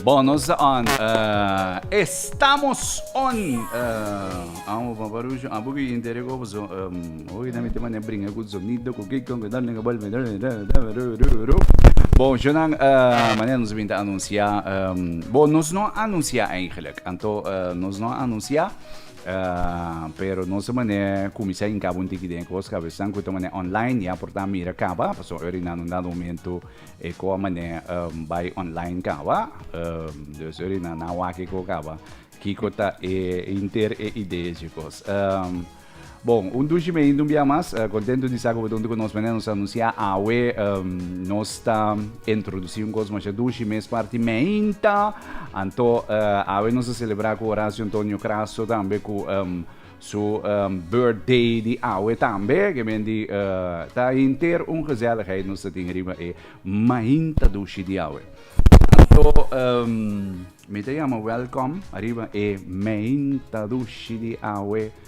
Bono sa on estamos on amo pa parushi abo ki intere ko boso hoy na mete mane bringa ku sonido ku kiko ku done ku bolbe Bonjo nan mane nos a binti anunsia bo nos no a anunsia eigenlijk anto nos no a anunsia pero nos a manera kuminsá hinká bo un tiki den e kos ka aves nan ku ta manera online ya por ta mira kaba, pasobra ora di nan un dado momento e kos a manera bai online kaba. Dus ora di nan a wak e kos kaba kiko ta e hinter e idea dje kos. Bon, un dushi mei hinter un bia mas. Kontentu di sa ku bo ta huntu ku nos. Manera nos a anunsiá awe nos ta introdusí un kos mashá dushi, mes parti meinta. Anto awe nos a celebra cu Horacio Antonio Crasso tambe cu um, su um, birthday di awe tambe. Que men di uh, ta hinter un gezelligheid nos ta tin riba e mahinta dushi di awe. Anto um, mi te llama welcome arriba e mahinta dushi di awe.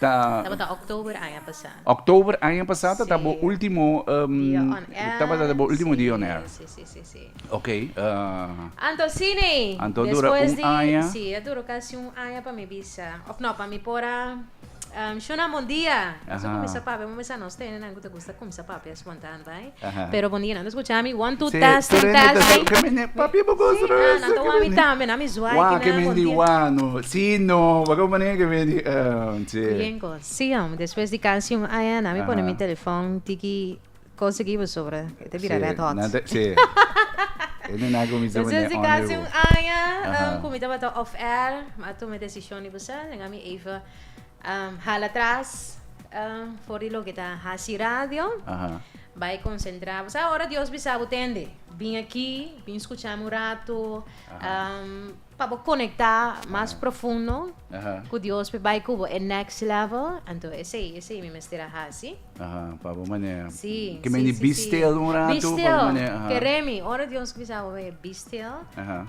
Tabata October aña pasá. October aña pasá tabata bo ultimo dia on air. Sí, sí, sí, sí. Ok. Anto sí ne. Anto dura un aña. Despues di, sí, a dura casi un aña pa mi bisa, of no, pa mi por a shunambo un dia. Nos a cuminsá papia, bo mester a nos tenenan cu ta gusta cuminsá papia espontan, right? Pero bon dia, nan ta skucha mi one two testing testing. Ke mende papi e bo goso no bes. Nan ta wak mi tambe, nan mi zwai aki nan bon dia. Wak ke mende wak no, si no, pa kon manera ke mende che. Bien kos. Si hombre, despues di casi un aña nan mi pone mi telefòn tiki cosa ki bo sobra, e ta bira red hot. Si. E no na kuminsa pone on e bo. Despues di casi un aña ku mi tabata off air, mi a tuma e desishon di bo sa, lenga mi even. Hala tras for di loke ta hasi radio. Bai konsentrá. Bo sa ora Dios bisa bo tende bin aki, bin skuchá mi un ratu pa bo konektá mas profundo ku Dios p'e bai ku bo e next level. Anto esei, esei mi mester a hasi. Pa bo manera. Sí, sí, sí, sí. Ke mene bi stil un ratu. Bi stil. Keré mi. Ora Dios bisa bo e bi stil,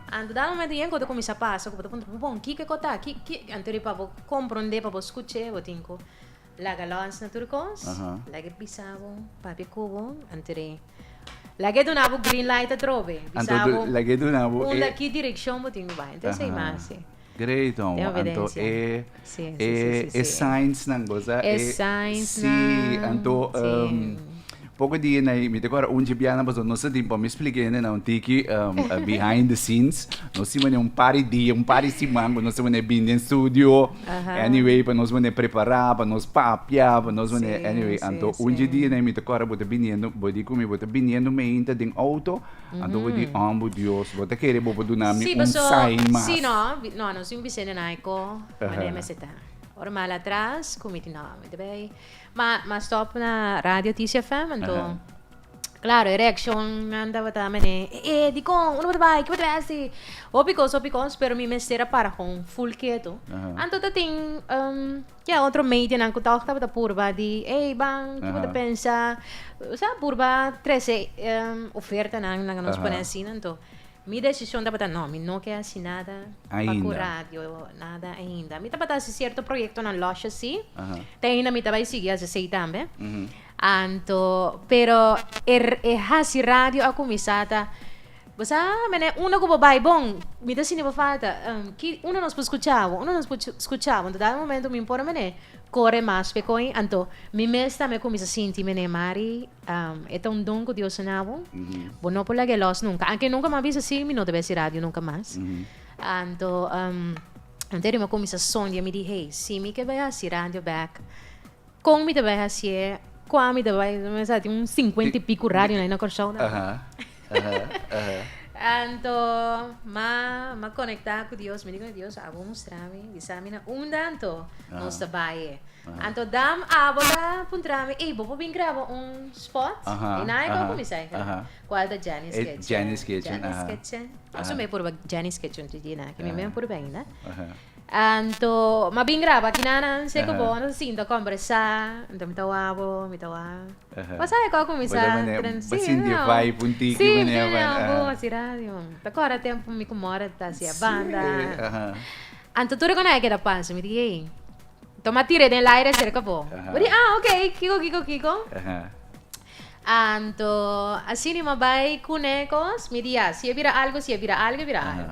anto dal momento yen ku ta kuminsá pasa ku bo ta puntra bo bon kiko e kota? Ki, ki, anto riba bo. Komprondé pa bo skuch'é, bo tin ku laga lòs na tur kos, lag'é bisa bo, papia ku bo, anter'é lag'é duna bo green light atrobe, bisa bo unda ki direkshon bo tin ku bai. Entonse i hasi. Great homo, anto e e signsnan bosa e si anto. Poko dia na ei, mi ta kora un dje bianan pasobra nos ta tin, pa mi splika hende na un tiki behind the scenes, nos tin manera un par di dia, un par di siman ku nos ta manera bin den studio, anyway pa nos manera prepara, pa nos papia, pa nos manera anyway anto un dje dia na ei mi ta kora bo ta biniendo, bo di ku mi bo ta biniendo meinta den outo, anto bo di oh bo dios, bo ta kere bo por duna mi un sign mas. Sí, pasobra no, nos tin bisende nai ko mane mester ta. Ora mal atras ku mi tin no, mi ta bai Ma ma stop na radio Tish FM anto claro e reaccionnan tabata mene e e dicon uno bota bay ki bo ta besti hopi cos hopi cos pero mi mester a para con full keto anto ta tin um ya otro medianan cu tog tabata purba di ey ban ki bo ta pensa o sea purba trece um ofertanan nan nos pone asina anto. Mi desishon tabata no, mi no ke hasi nada pa ku radio, nada ainda. Mi tabata hasi sierto proyektonan lòshes si, te ainda mi ta bai sigui hasi esei tambe. Anto, pero e, e hasi radio a kuminsá ta, bo sa mene unda ku bo bai bon, mi ta sinti bo falta, ki, unda nos por skucha bo, unda nos por skucha bo? Anto dado momento mi por mene kore mas pekoi, anto mi mes ta me kuminsá sinti mene mari E ta un don ku Dios a na bo. Bo no por laga e lòs nunka. Anke nunka mi a bisa si, mi no ta bai si radio nunka mas. Anto, antes di mi a kuminsá sondia, mi di, hei, si mi ke bai hasi radio bèk, kon mi ta bai hasié? Kua mi ta bai? Mi sa tin un sinkuenta i piku radionan na Kòrsou. Anto, ma ma conecta cu Dios, mi di cona Dios abo mustra mi, bisa mi na unda anto nos ta baye. Anto Dam abo ta puntra mi, ey, bo por bin graba un spot? Y nan ey por cuminsa e graba. Cual ta Jenny's Kitchen. Jenny's Kitchen. Jenny's Kitchen. Pasobra mi purba Jenny's Kitchen, TJ, na, ke mi mi a purba ainda. Anto ma bin graba kinanan seko bo a sinta kombersá anto mi ta wak bo mi ta wak bo sa e kua kuminsá tren si bo hasi radio man ta kòrda tempu mi ku Mora ta hasié banda anto tur e konai a keda panso mi di hey anto ma tir'é den laire serka bo bo di ah ok kiko kiko kiko anto asina mi bai kune kos mi di ya si e bira algu si e bira algu e bira algu.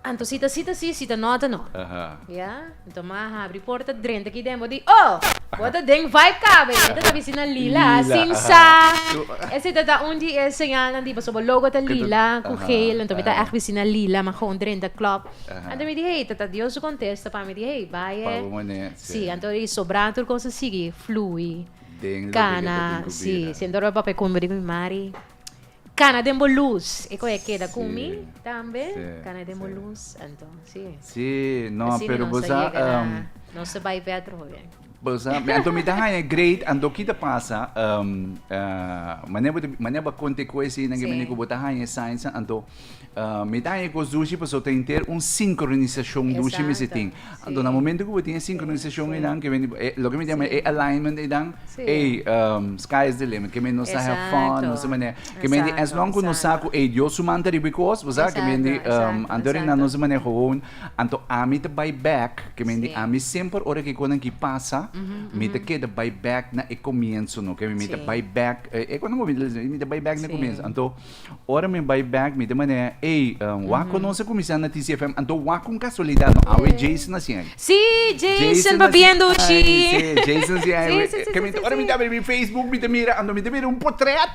Anto sita sita si, sita nota no. Ya. Anto ma habri porta drenta aki den, bo di, Oh! Bo ta den vibe caba, e menta ta bisti na lila, sin sa. Esei ta ta un di e señalnan di pasobra logo ta lila cu geel, anto mi ta echt bisti na lila, ma gewoon drenta club. Anto mi di, Hey, ta ta Dios su contesta pa mi di, Hey, bay e. Si, anto e sobra tur cos a sigui flui. Cana, si. Si anto lo e papia cumbe di mi mari. Cana den bo luz. E coge keda cu mi tambe. Cana den bo luz. Anto, si. Si, no, pero bo sa. Nos a bai pe atroho bien. Bo sa, anto mi ta haya great, anto ki ta pasa, mane bo ta, mane bo a conte cu asina, ki manier cu bo ta haya e signs, anto. Mi ta haña e kos dushi pasobra ta henter un sincronisacion dushi mester tin. Anto na momento cu bo tin e sincronisacion eynan ke bini, loke mi ta yama e alignment eynan, ey, sky is the limit, ke bini nos ta have fun, nos ta manera, ke bini as long cu nos sa cu ey Dios su man ta riba e kos, bo sa, ke bini, anto eynan nos ta manera gewoon. Anto ami ta bay back, ke bini ami semper ora ke e kosnan aki pasa, mi ta keda bay back na e comienzo no, ke bini mi ta bay back, e kos nan bo mira, mi ta bay back na e comienzo. Anto. Ora mi bai bek mi ta manera, ey, um, wa conoce comisión na TCFM, anto wa con casualidad no awe Ey. Jason na sien. Sí, Jason, pa viendo Ay, chi. sí, Jason sí, ay, Sí, we- sí, sí, que mi- sí, sí, ora mi sí. ta abri mi Facebook, mi ta mira, ando mi ta mira un portret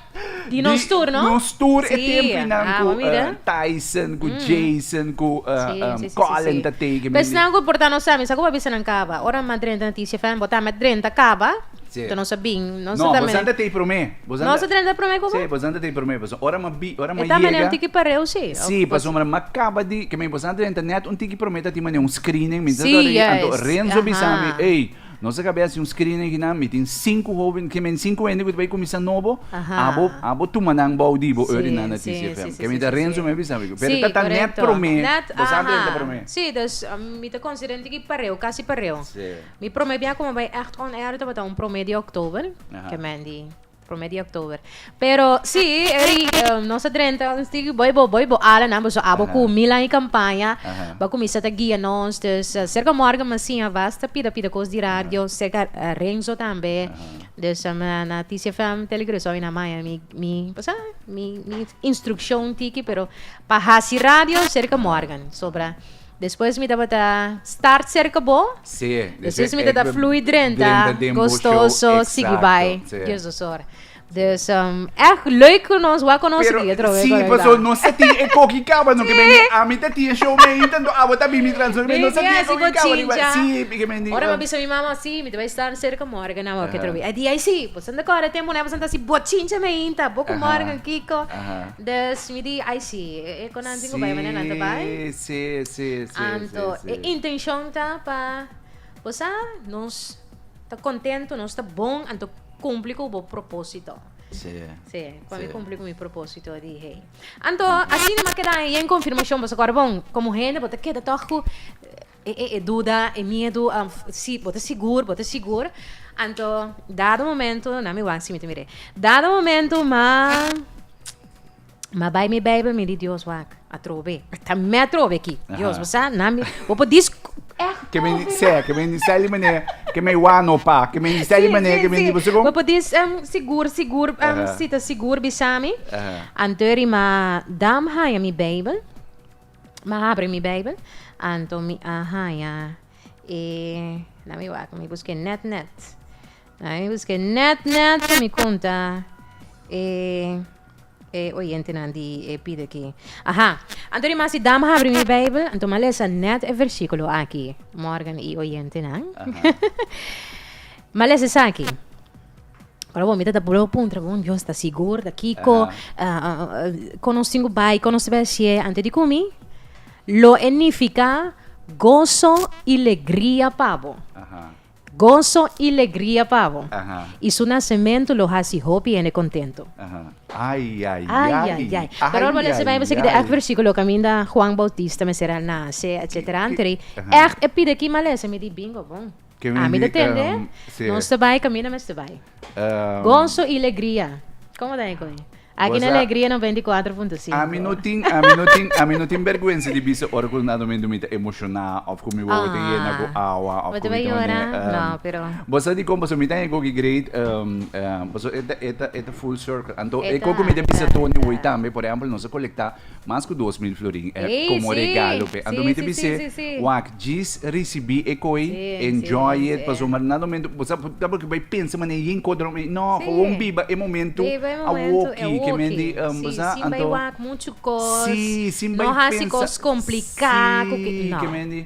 Di nos tour, no? nos tour e Sí, tempinan ah, cu wa mira. eh, Tyson, cu Jason, cu eh, Sí, um, sí, sí, sí, Colin sí. ta teken. Pues nan ku porta nos ami, sa ku pa bisa nan kaba. Ora ma drenta na TCFM, bota met drenta kaba. Sí. To nos a bin. Nos No, ta bosan ta tei prome. Nos ta tene ta prome ku bo? Sí, bosan ta tene prome pasobra ora m'a bi, ora m'a yega. E ta mane un tiki pareu sí. Sí, pasobra m'a kaba di, ke mi bosan ta tene ta nèt un tiki prome ta tin mane un screening, mi ta ta ri, anto Renzo bisa mi, ey, nos a kab'é hasi un screening akinan, mi tin sinku hoben, ke men sinku hende ku ta bai kuminsá nobo, abo abo tuma nan bou di bo oi oriná na TCFM. Ke mi ta Renzo mi a bisa mi, pero ta ta nèt prome, bosan ta tene ta prome. Sí, dus mi ta konsidera un tiki pareu, kasi pareu. Sí. Mi prome bia ku mi bai echt on air tabata un prome di oktober, ke Mandy prome di oktober. Pero si, Eric, um, nos a drenta un stik boi bo, boi bo ala nan, bo so abo ku mil an i kampaña, ba kumisa ta guia nos, dus uh, serka morgen masinha was ta pida pida kos di radio, serka uh, Renzo tambe, dus um, na TCFM Telegresol i na Maya mi, mi, pasa, mi, mi instrukshon tiki, pero pa hasi radio serka morgen, sobra. Despues mi tabata start cerca bo. Sí, despues mi tabata fluye drenta gostoso sigui bay Dios nos ora. Dus ech leuk cu nos wou a conoce di atrobe. Sí, paso nos ta tin e coki caba no ke mendi ami ta tin e show mei tanto abo ta bini tras nos nos ta tin e coki caba di bay sí ke mendi. Ora mi a bisa mi mama sí mi ta bay start cerca Morgan awo ke atrobe e di ay sí bo san ta cora tempo no e bo san ta haci bo chincha meinta bo cu Morgan Kiko Dus mi di ai si, e konanti tin ku bai manera nan ta bai. Sí, sí, sí, Anto sí, sí. e intenshon ta pa bo sa nos ta kontentu, nos ta bon, anto kumpli ku bo propósito. Sí. Sí, pa mi kumpli ku mi propósito di hei. Anto asina mi a keda yen konfirmashon, boso kòrda bon, komo hende bo ta keda tòg ku. E, e, e duda, e miedu, a, si, bo ta sigur, bo ta sigur. Anto, dado momento, na mi wan si mi ta mir'é. Dado momento m'a, m'a bai mi Bijbel, mi di, Dios, wak, atrobe. Ta mei atrobe aki. Dios, bo sa, na mi, bo por dis, èhkò. Ke men di, sè, ke men di seli manera ke mei wan no pa. Ke men di seli manera ke men di bo segun. Bo por dis, sigur, sigur, si ta sigur bisa mi. Anto e riman, dam haña mi Bijbel. M'a habri mi Bijbel, anto mi a haña e. Na mi wak, mi busk'é nèt nèt. Na mi busk'é nèt nèt pa mi konta e, e oyentenan di e pidi akí. Aha, anto ri Masi dam habri mi Bijbel, anto m'a lesa nèt e versíkulo akí. Morgan i oyentenan, m'a lesa esaki. Ora bo mi ta tapu lo puntra bon Dios ta sigur ta kiko kono singu bai kono se bashie ante di kumi lo enifika gozo i legria pabo gozo i legria pabo i su nasementu lo hasi hopi hende kontento ai ai ai pero ora bo lesa bai bo seki di ekt versikulo kaminda Juan Bautista mester a nase etsetera anto di ekt e pida ki malesa mi di bingo bon. Ke mi Ami ta di, tende, ehm, sí. nos te bai camina mes te bai. Ehm, Gozo y legria. Como ta eco ahí? Aquí na Goza- Alegria 94.5. Ami no tin, ami no tin, ami no tin bergwensa di bisa ora ku nado mi ta emoshoná of ku mi wowo ta Ah. yena ku awa of Bo ku te mi bai ta yora? manera, ehm, No, pero- Bo sa di kon paso mi ta eco ki great, ehm, ehm, paso e ta, e ta, e ta full circle. Anto E ta, eco ku mi ta e ta, bisa e Tony ta. hoy tambe, por ehempel, nos a colectá Mas ku dos mil florin e komo regalo p'e. Anto mi ta bis'e, wak, djis risibí e koi, enjoy it, pasobra manan nan momentu ku bo sa ta por ke bai pensa manera yin kos dòrom ei. Nò, por wou biba e momentu awoki, ke men di, bo sa, anto. Sí, sin bai pensa, sí, ke men di.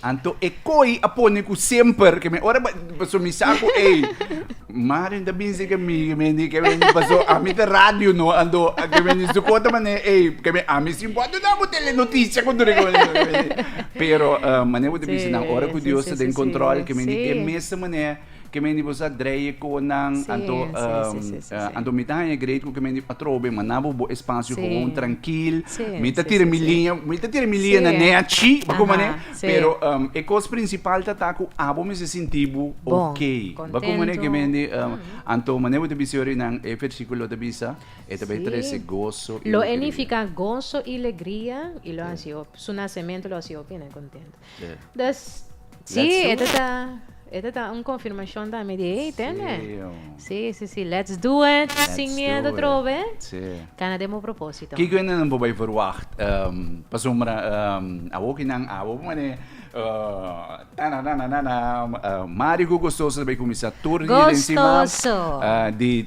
Anto e koi a pone ku semper ke mi ora paso mi sa ku ei Mario no ta binsi ke mi ke mi a ke mi paso ami ta radio no anto ke mi a ni suko ta mane ei ke mi ami si bo a duna bo telenotisia ku tur e kos pero mane bo ta bisa nan ora ku Dios ta den kontrol ke mi a ni e mes manera Ke men di bo sa dreie koe nan anto anto mi ta haña great ku ke men di atrobe manda bo bo espasio gewoon trankil mi ta tira mi liña mi ta tira mi liña na ne a chi pa koma ne pero e kos prinsipal ta ta ku abo mester sinti bo ok pa koma ne ke men di anto mane bo ta bisa yorinan e versikulo ta bisa e ta bai trese goso i legria. Te. Dus, si, Let's do ete it. ta, ete ta un confirmacion tambe di hey, tende? Sí, hombre. Si, si, si, let's do it, Let's sin do miedo it. trobe, Sí. cana den bo propósito. Kiko e nan bo bay verwacht ehm pasobra ehm awoki nan abo bo mane eh tananananana eh Mario ku Gustoso ta bay cuminsa tur di den sima Gustoso. eh di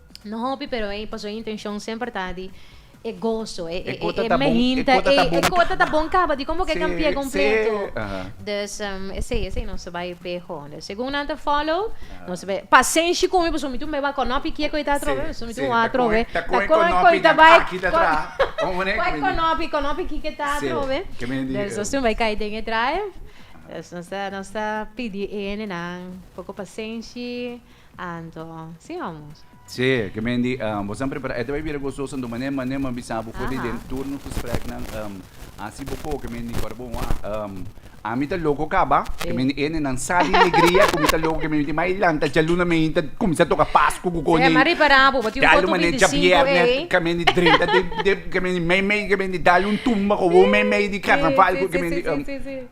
No hopi pero ey pasobra e intencion semper ta di e gozo, e mehinta, e cota ta bon caba di como cu e can pia completo. Dus esey, esey nos bai beho. Dus segun nan ta follow, nos bai pasenshi cu mi pasobra mi tin bai wak conopi kico e ta atrobe, pasobra mi tin wak atrobe. Ta con e conopi nan aki ta traha. Con e conopi, conopi kico e ta atrobe. Dus nos tin bai cay den e drive. Dus nos ta, nos ta pidi ene nan poco pasenshi. Anto, si amo. Sí, ke men di bo san prepara. E ta bai bira gozoso anto mané mané m'a bisa bo for di den tur nos gespreknan hasi bo ko ke men di ora bo wak ami ta loko kaba ke men di ene nan sa di legria ku mi ta loko ke men di mai lanta djaluna men ta kuminsá toka pasku ku koneyu. Djai algu mané dja bièrnè ke men di drenta den ke men di meimei ke men di dal un tumba ku wou meimei di karnaval ku ke men di.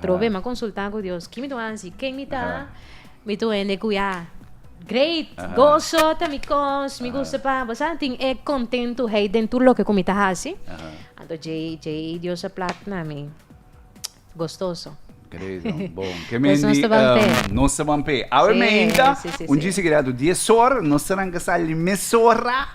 Probe m'a consulta cu Dios, ki mi tur hansi? Ken mi ta? Mi tur hende cu ya great, goso ta mi cos, mi gusta pa, bo sa, tin e contentuheid den tur loke cu mi ta hasi. Anto djei, djei Dios a plat na mi gostoso. Great, man. Bon. Ke mi Pues nos ta ban pe. hende, nos ta ban pe. Awe Sí, mijita, sí, sí, un sí. djis seguido, dies or, nos ta ranca sali mesora.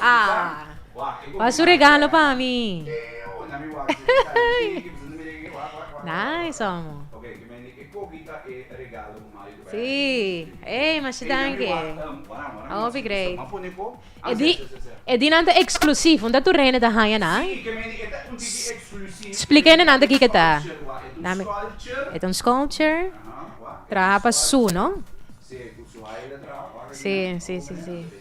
Ah wak su regalo pa mi. Nice amo. Si, ey masha danki. Hopi great. E di e di nan ta eksklusief, un ta tur hende ta haña nan. Splika hende nan ta kiko ta. E ta un sculpture, traha pa su, no? Si, si, si, si.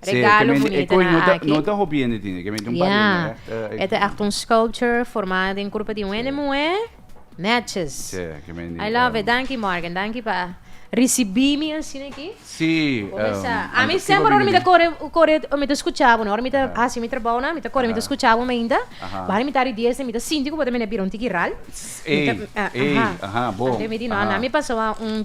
Regalo bunita nan aki. No ta hopi hende tin, kementi un par hende règt. Ja. E ta ègt un sculpture formá den kurpa di un hende muhé. Nètjes. Sí, kementi. I love it. Danki Morgan. Danki pa risibí mi asina aki. Sí. Bo me sa, ami semper ora mi ta kore, kore mi ta skuchá bo, ora mi ta hasi mi trabou nan, mi ta kore mi ta skuchá bo meinta. Bahanda mi ta ari diesnan mi ta sinti ku bo ta mene bira un tiki ral. Ey, ey, aha, bo. Anto mi di no, ana mi pasa wan un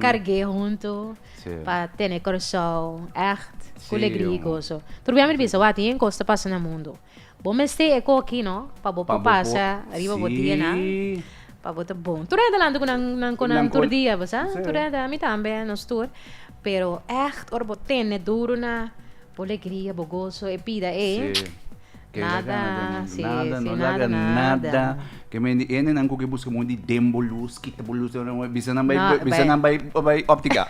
Carg'é huntu pa tene Curaçao ègt cu legria i goso. Tur biaha mi ta bisa, wak, tin yen cos ta pasa na mundu. Bo mester e coki, no? Pa bo por pasa riba bo dianan, pa bo ta bon. Tur hende alanti cu nan con nan tur dia, bo sa? Tur hende, ami tambe, nos tur. Pero ègt ora bo tene duru na bo legria, bo goso, e pida ei. Nada, si, si, nada, nada. Ke men di ene nan ku ke buska moe di den bo lus, kita bo lus, bisa nan bai, bisa nan bai, bai optica.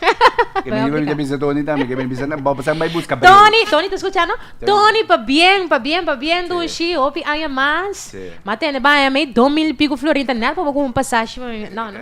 Ke men di bisa Tony tambe, ke men bisa nan, bo san bai buska bril. Tony, Tony ta skucha no? Tony pa bien, pa bien, pa bien dun shi hopi aña mas. Ma tene bai ami dos mil i piko florin ta nel pa bo kup un pasashi pa mi, no, no.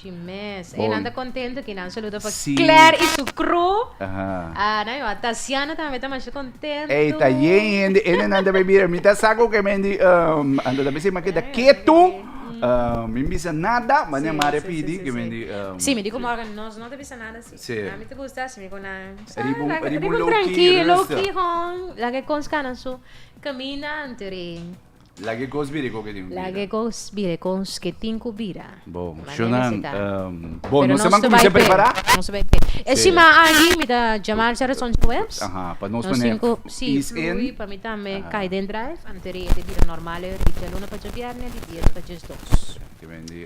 Chi mes. Bon. Einan ta contento aquí, nan saludo pa Sí. Claire y su crew. Aha. Ah, nan yo, Tatiana también ta masha contento. Ey, ta yen hende, hende nan ta bay bira. Mi ta sa ku ke men di, um, Anto ta bese, ma keda ketu. Um, mi bisa nada, ma ne Maria pidi ke men di, um, Sí, mi di como ahora nos no te bisa nada así. Sí. A mi te gusta así, mi con nan. Sa, Riba un- laga- riba un riba un low-key, tranquilo, rustig. low-key, hon, laga e cons canan su caminante, ri. Lag'é kos birekó ke tin ku bira. Lag'é kos birekons ke tin ku bira. Bo, Shunan, bo, nos te man kuminsá a prepará? Pero nos ta bai p'e. E siman aki mi ta djamar dje razon dje webs. Aha, pa nos pone ease in. Sí, flui pa mi tambe kai den drive, anto riba e ta bira normal e ritmo dje luna pa dje bièrnè, di bies pa djesdos. Te mindi.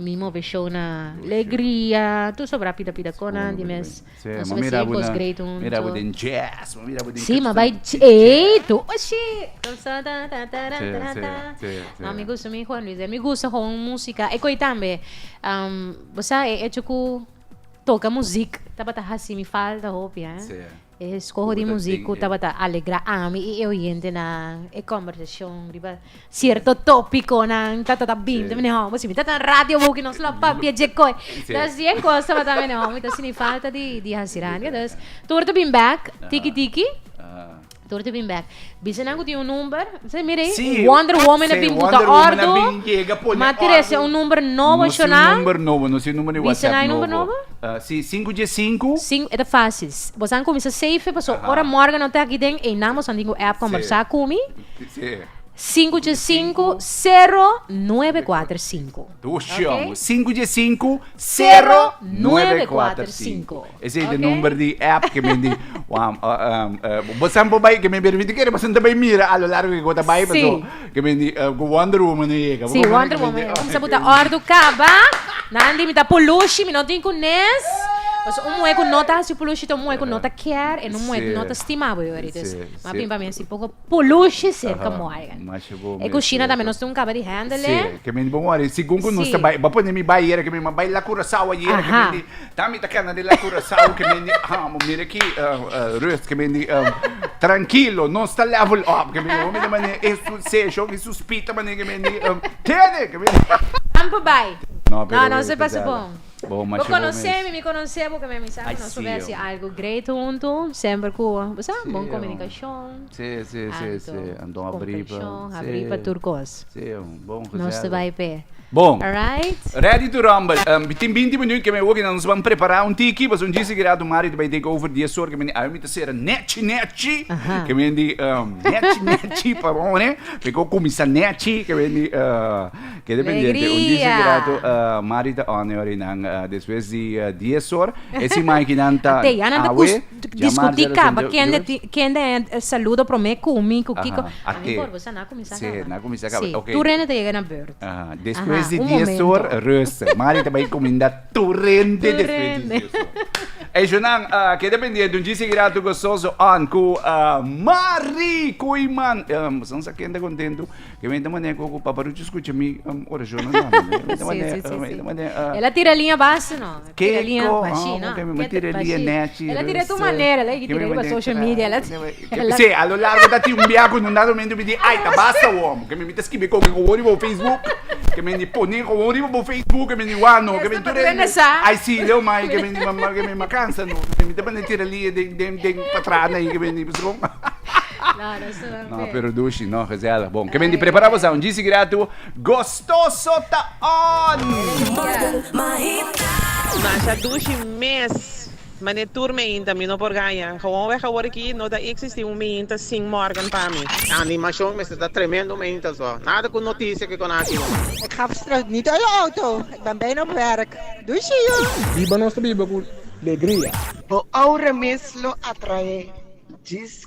Mi mobe show na legria tur sobra pida pida conan di mes nos mester den post grade hunto mira bo den jazz bo mira bo den si ma bai ey tu oshi dansa ta ta ta ma mi gusto mi juan luis mi gusto gewoon musica e coi tambe um bo sa e hecho cu toca muziek tabata hacimi falta hopi eh E skoho di muzik ku tabata alegra ami i e oyentenan e kòmbersashon riba sierto tòpikonan ta ta binti mi nihò. Bo sibi ta tan radio bo ku nos lo papia dje kos. Nos dje kos tabata mi nihò, mi ta sini falta di di hasi radio. Entonces tur ta bin bèk, tiki tiki, tur ta bin bèk. Bisa nan ku tin un number. Mester mira ei. Sí. Wonder Woman a bin buta ordu. Wonder Woman a bin yega pone ordu. Ma Teresa e un number nobo a shona? No si un number nobo, no si un number di WhatsApp nobo. Bisa nan e number nobo? Sí, sinku dje sinku. Sinku e ta fásil. Bosan kuminsa save paso ora Morgan no ta aki den einan bosan tin ku app kombersá ku mi. Sí. Sinku dje sinku sero nuebe kuater sinku. Dushi amo. Sinku dje sinku sero nuebe kuater sinku. Esei de number di app ke mi di wam bo san bo bai ke mi bira di kere bosan ta bai mira a lo largo di ku ta bai paso ke mi di ku wonder woman no yega si wonder woman yega kumsa bo ta ordu kaba nan di mi ta pulushi mi no tin ku nes paso un muhe ku no ta hasi pulushi ta un muhe ku no ta kier e un muhe ku no ta stima bo yori dus mas bin pa mi a si poko. Pulushi serka Morgan. E kushina tambe nos tin un kaba di hèndele. Sigun ku nos ta bai, bo pone mi bai yera ke mi a bai la Curaçao ayera ke mi di ta mi ta kenda di la Curaçao ke mi di amo mira aki Ruth ke mi di trankilo nos ta level up ke mi di hopi di manera e session e suspita manera ke mi di tene ke mi di. Tampa bai no nos e pasa bon. Bo masha bo mes. Bo conoce mi, mi conoce bo, keme misa cu nos por haci algo great hunto, semper cu bo sa, bon comunicacion, anto comprension, habri pa tur cos. Nos ta bay p'e. Bon. Alright. Ready to rumble. Mi tin binti minuut keme oki nos ban prepara un tiki, pasobra un día sigurado Mario ta bay take over dies or, keme awe mi ta cera nechi nechi, keme indi nechi nechi, perdone, mi cu cuminsa nechi, keme indi. Ke dependiente un dice grato Mari ta òne ora y nan despues di dies or ese maiki nan ta awe ya Mari a responde oi discuti caba kende a saluda prome cu mi cu Kiko a mi por bosa na cuminsa caba si na cuminsa caba si tur hende ta yega na beurt despues di dies or rust Mari ta bay cuminda tur hende despues di dies or eso nan ke dependiente un dice grato gososo on cu Mari cu y man bosa no sa kende contento. Ke menta manera ku paparuchi skucha mi orashonnan tambe. El a tira liña basi no. Tira liña bashí no. Mi tira liña nèchi. El a tira tu manera, lei ki tira riba social media el a tira. Sí, a lo largo ta tin un biaha ku nan dado menti mi di ai ta basta wòm, ke men mi ta skibi koke gowon riba bo facebook, ke men di pone gowon riba bo facebook, ke men di wak no, ke men tur el ai sí leu mai ke men di m'a kansa no, mi ta manda tira liña den den den patras na ei ke men di pasobra. No ha perdushi no gezellig bon ke menti prepara bo sa un djisi gratu gostoso ta on. Masha dushi mes. Mane tur meinta mi no por gaña. Gewoon wèg awor aki no ta iksisti un meinta sin Morgan pa mi. E animashon mester ta tremendo meinta so. Nada ku notisia ke kona aki no. Ik ga straks niet uit de auto. Ik ben bijna op werk. Doei, zie je! Biba nos ta biba cu legria. Bo aura mes lo atrae djis